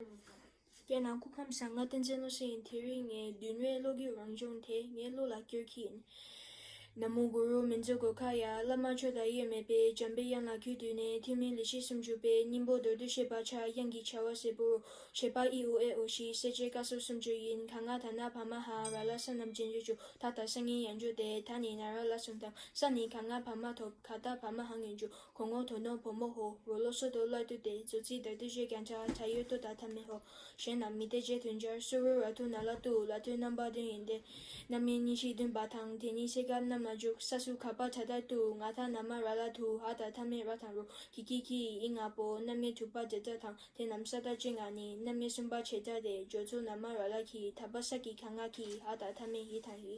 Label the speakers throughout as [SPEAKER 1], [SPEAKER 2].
[SPEAKER 1] རྒྱལ་ནང་སྐུ་ཕམ་བཟང་ང་བསྟན་འཛིན་བློ་གསལ་ཡིན་དེ་རིང་ངའི་མདུན་བའི་བློ་རྒྱུད་རང་བྱུང་དེ་ངའི་བློ་ལ་བསྐྱོད་ཁྱི་ཡིན། ན་མོ་གུ་རུ་མི་འཛུགས་དགོས་ཁ་ཡ་བླ་མ་ཆོས་དང་དབྱེར་མེད་པའི་འཇམ་པའི་དབྱངས་ལ་གུས་བཏུད་ནས་ཐུན་མིན་ལི་ཤི་སུམ་ཅུ་པའི་སྙིང་པོ་མདོར་བསྡུས་བཤད་པ་ཕྱག་གཡང་གི་བྱ་བ་གཟེར་བུ་རུ་བྱེད་པ་ཨི་ཨུ་ཨེ་ཨོ་ཤི་གསལ་བྱེད་བཀའ་སྲོལ་སུམ་ཅུ་ཡིན་ད་ང་ད་ན་བ་མ་ཧཱ་ར་ལ་ས་རྣམས་རྗེས་འཇུག་ཅུ་ད་ད་ས་ངན་ཡང་འཇུག་སྟེ་ད་ནི་ན་ར་ལ་སུམ་ཐམ་ས་ནི་ག་ང་བ་མ་ཐོབ་ག་ད་བ་མ་ཧཱ་ངན་འཇུག་གོང་ངོ་དོ་ནོ་བོ་མོ་ཧོ་རོ་ལོ་སོ་དོ་བླ་དུ་ཏེ་ཛོ་ཙི་དར་དུ་ཞེས་ཀྱང་བྱ་བ་ད་ཡོད་དོ་ད་ཐ་མི་ཧོ་གཞན་རྣམས་མི་སྟེ་རྗེས་དོན་སྦྱར་སུ་རུ་ར་ཐུ་ན་ལ་ཏུའུ་ལ་ཐུའི་རྣམ་པ་བདུན་ཡིན་ཏེ། རྣམ་དབྱེ་གཉིས་ཤིག་བདུན་པ་དང་དེ་གཉིས་བསྲེས་སྐབས་རྣམ་ལ་འཇུག་ས་སུ་ག་པ་ད་དར་ཏུའུ་ང་ཐ་ན་མ་ར་ལ་དུ་ཧ་ད་ཐ་མི་ར་དང་རུ་ཀི་ཀི་ཀི་ཡི་ཨི་ང་པོ་རྣམ་དབྱེ་དྲུག་པ་འདི་དག་དང་དེ་རྣམས་ས་དར་ཅི་ང་ནི་རྣམ་དབྱེ་གསུམ་པ་ཆེ་དར་ཏེ་སྦྱོར་ཚུལ་ན་མ་ར་ལ་གི་ད་པ་ས་ཀི་ག་ང་ཀི་ཧ་ད་ཐ་མི་ཧི་དང་ཧི།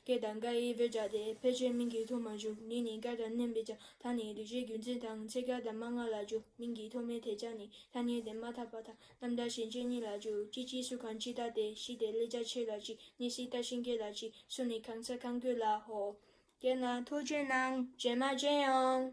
[SPEAKER 1] སྐད་དང་སྐད་ཡིག་བོད་སྦྱར་ཏེ་ཕལ་ཆེར་མིང་གི་ཐོག་མ་བཞུགས་ནི་ནི་སྐད་དང་མནན་པའི་ཆ་ཐ་ནི་རིག་བྱེད་རྒྱུད་འཛིན་དང་ཚད་སྐད་དང་མ་སྔ་ལ་བཞུགས་མིང་གི་ཐོག་མའི་ཐད་ཆ་ནི་ཐ་སྙད་དེ་མ་ཐག་པ་དང་རྣམ་དག་ཞེས་མཆན་གཉིས་ལ་བཞུགས་ཅི་ཅིའི་སུ་གང་ཅི་ལྟ་སྟེ་ཞི་དེ་ལས་རྒྱ་ཆེ་ལ་ཅི་ནི་སི་ལྟ་ཤིང་སྐད་ལ་ཅི་སུ་ནི་གང་ཚད་གང་དགོས་ལ་ཧོ། རྒྱན་ལ། ཐུགས་རྗེ་གནང། རྗེས་མ་རྗེས་ཡོང།